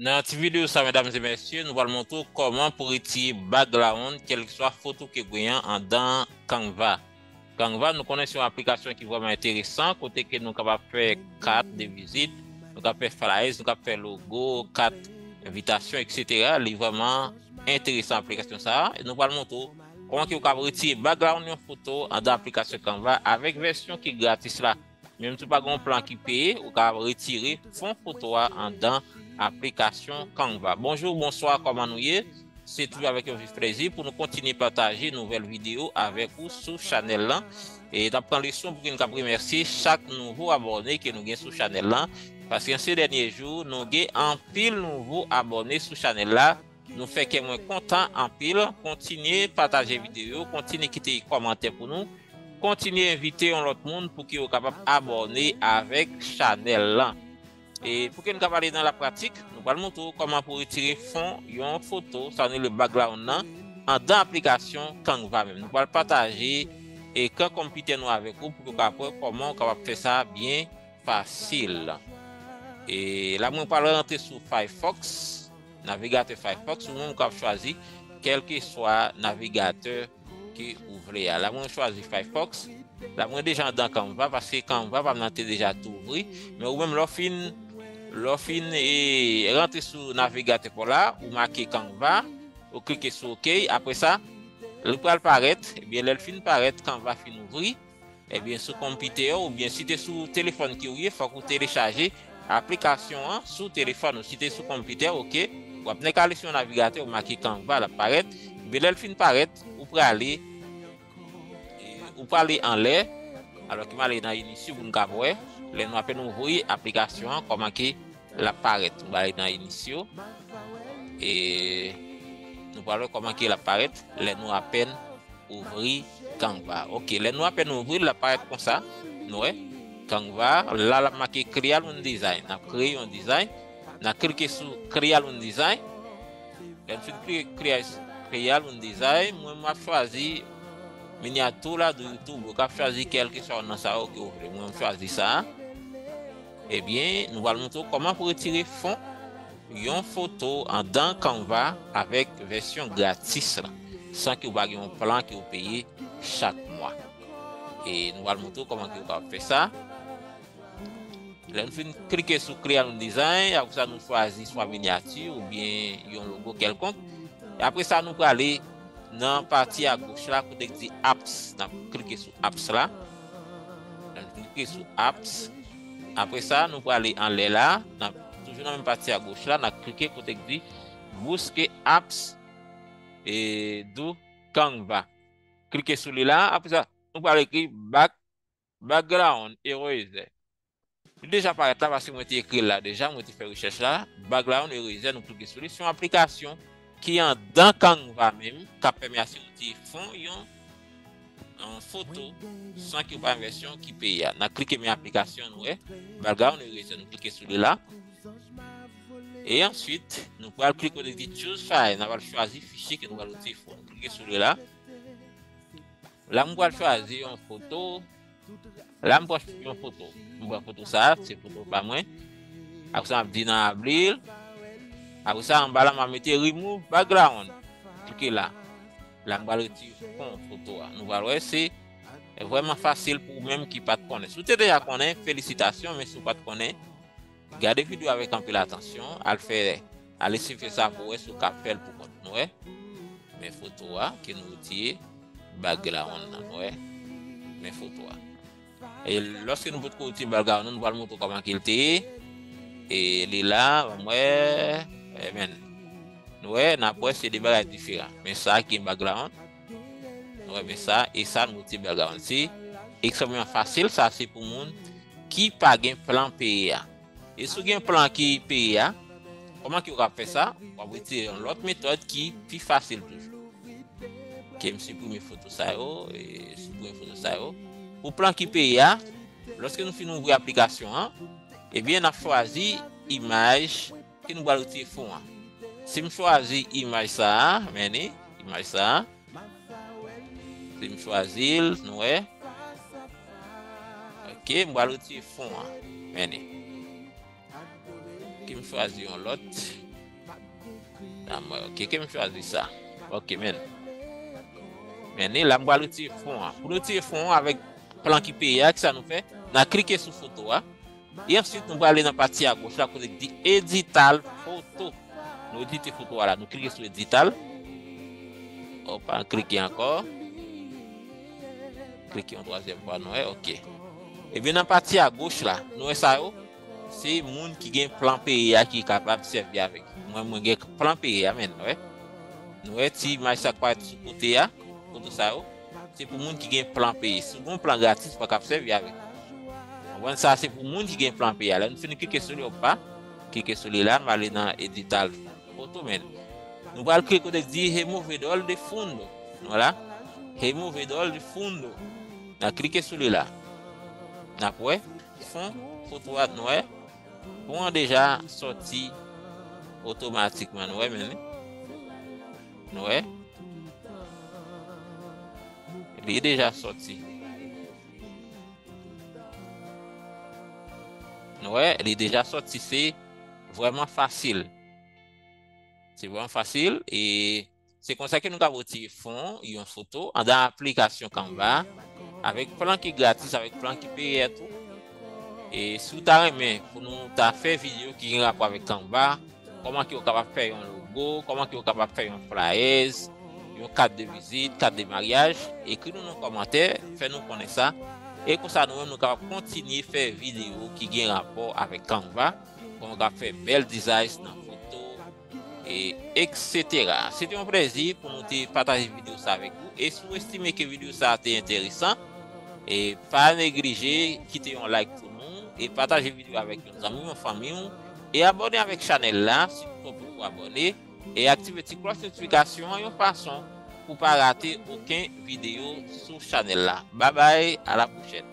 Nan ti video sa medam e mesye nou pral montre w koman pou retire background kelkeswa foto ke w genyen andan canva. Canva nou konnen se yon aplikasyon ki vreman enteresan kote ke nou kapab fè kat de vizit, nou kap fè flyers, nou kap fè logo, kat envitasyon etc. Li vreman enteresan aplikasyon sa a. Nou pral montre ou kòman ke ou kap retire background yon foto andan aplikasyon Canva avèk vèsyon ki gratis la. Menm si ou pa gen yon plan ki peye, ou ka retire fon foto a andan aplikasyon Canva. Bonjou, bonswa, kòman nou ye? Se toujou avèk yon vif plezi pou nou kontinye pataje nouvèl videyo avèk ou sou chanèl lan. E n ap pran leson pou ki n kab remèsye chak nouvo abòne ke nou gen sou chanèl lan. Paske an se dènye jou, nou gen anpil nouvo abòne sou chanèl la. Nou fè kè mwen kontan anpil, kontinye pataje video yo, kontinye kite kòmantè pou nou, kontinye envite yon lòt moun pou ki yo kapab abòne avèk chanèl lan. E pou ke nou ka pale nan la pratik, nou pral montre ou kòman pou retire fon yon foto, sa nou rele background nan, andan aplikasyon Canva menm. Nou pral pataje ekran konpitè nou avèk ou pou ke ou kapab wè kòman ou kapab fè sa byen fasil. E la mwen pral rantre sou Firefox. Navigatè Firefox ou menm kap chwazi kelkeswa navigatè ke ou vle a. La mwen chwazi Firefox. La mwen deja andan Canva paske Canva pam nan te deja tou ouvri. Men ou menm lè w fin lè w fin e rantre sou navigatè paw la ou make Canva ou klike sou ok apre sa li pral parèt ebyen lè l fin parèt Canva fin ouvri. Ebyen sou konpitè ou oubyen si te sou telefòn ki ou ye fòk ou telechaje aplikasyon an sou telefòn ou si te sou konpitè ok wap nèk ale sou yon navigatè ou make canva lap parèt ebyen lèl fin parèt ou prale ou prale anlè alò ki male nan initio pou nou kap wè lè nou apen ouvri aplikasyon an kòman ke Lap parèt ba li nan inisyo. E nou pral wè koman ki lap parèt lè nou apèn ouvri Canva. Ok, lè nou apèn ouvri lap parèt konsa. Nou wè Canva la lap make create one design. Nap kreye yon design. Nan klike sou create one design. Lè nou fin klike create Creal un design, mwen map chwazi miniatura do YouTube, ou kap chwazi kelke sa nan sa yo ke ou vle. Mwen map chwazi sa. Ebyen nou pral montre w kòman pou retire fon yon foto andan Canva avèk vèsyon gratis la san ke w pa gen yon plan ke w peye chak mwa e nou pral montre w kòman ke w kapab fè sa lè nou fin klike sou Create New Design apre sa nou chwazi swa minyati oubyen yon logo kèlkonk apre sa nou prale nan pati a goch la kote ki di Apps n ap klike sou Apps la. Nan klike sou apps. Apre sa nou prale anlè la. Nan toujou nan menm pati a goch la nan klike kote ki di bouske apps e dou canva. Klike sou li la. Apre sa nou prale ekri background eraser. Li deja parèt la paske mwen te ekri l la deja, mwen te fè rechèch la. Bag la yon erezè nou klike sou li. Se yon aplikasyon ki andan Canva menm k ap pèmè asyonte fon yon foto san ke w pa yon vèsyon ki peye a. N a klike men aplikasyon nou wè. Bag la yon erezè nou klike sou li la. E answit nou pral klike kote ki Choose File. N a pral chwazi fichye ke nou pral itilize fon. Klike sou li la. La mwen pral chwazi yon foto. La m pwòch yon foto. M pran foto sa, se foto pa mwen. Apre sa m ap di nan Abril. Apre sa anba la m ap mete remove background. Klike la. La m pral retire fon foto a. Nou pral wè se vrèman fasil pou ou menm ki pat konnen. Si w te deja konnen, felisitasyon men si w pat konnen. Gade video avèk anpil atansyon, al fè al esifye sa pou wè si ou ka fèl pou kont nwè, men foto a ke nou retire bag la ronn nan nwè, men foto a. E lòske nou potko retire bag la ronn nan nou pral montre ou kòman ke li te ye, e li la banm wè, amen. Nou wè, nap wè se 2 bagay diferan, men sa ki gen bag la ronn. Nou renmen sa e sa nou te bèl garanti. Examen an fasil sa se pou moun ki pa gen plan peye a. E si w gen plan ki peye a, kòman ki w ka fè sa? W ap retire yon lòt metòd ki pi fasil toujou. Ke m siprime foto sa yo, e siprime foto sa yo. Pou plan ki peye a, lòske nou fin ouvri aplikasyon an, ebyen n ap chwazi imaj. Ki nou pral retire fon an. Sim chwazi imaj sa a men li imaj sa a sim chwazil nou wè ok m pral retire fon an men li kem chwazi yon lòt ok kem chwazi sa ok men men li la m pral retire fon an pou retire fon an avèk plan ki peye a kisa nou fè nan klike sou foto a E answit nou prale nan pati a goch la kote ki di edital foto. Nou edite foto a la. Nou klike sou edital. Opa, an klike ankò. Klike yon twazyèm fwa nou wè, ok. Ebyen nan pati a goch la, nou wè sa yo? Se moun ki gen plan peye a ki kapab sèvi avèk. Mwen mwen gen plan peye a men, nou wè. Nou wè ti imaj sa k parèt sou kote a, foto sa yo. Se pou moun ki gen plan peye. Si w gen plan gratis, ou pa kab sèvi avèk li. Konprann sa, se pou moun ki gen plan peye. Lè nou fin klike sou li, ou pa. Klike sou li la, nou ale nan edital foto men. Nou pral klike kote di removedor de fundo. Nou la. Removedor de fundo. Nan klike sou li la. Nan pwè. Fon foto at nou wè. Fon an deja soti otomatikman nou wè men. Nou wè? Li deja soti. Nou wè? Li deja soti. Se vwèman fasil. Se vwèman fasil. E se konsa ke nou ka vwoti fon yon foto. Andan aplikasyon kanva. Avèk plan ki gratis, avèk plan ki peyè tou. E si ou ta renmen pou nou ta fè video ki gen rapò avèk Canva, kòman ki ou kapab fè yon logo, kòman ki ou kapab fè yon flyers, yon kat de vizit, kat de maryaj, ekri nou nan kòmantè, fè nou konnen sa. E konsa nou menm nou kapab kontinye fè video ki gen rapò avèk Canva, pou nou ka fè bèl dizay nan foto. e eksetera. Se te yon plezi pou nou te pataje video sa avèk ou e si ou estime ke video sa te enteresan e pa neglije kite yon like pou nou e pataje video avèk yon zanmi ou yon fanmi ou e abòne avèk chanèl la si ou pa poko abòne e aktive ti klòch notifikasyon an yon fason pou pa rate oken video sou chanèl la. Babay a la pwochèn.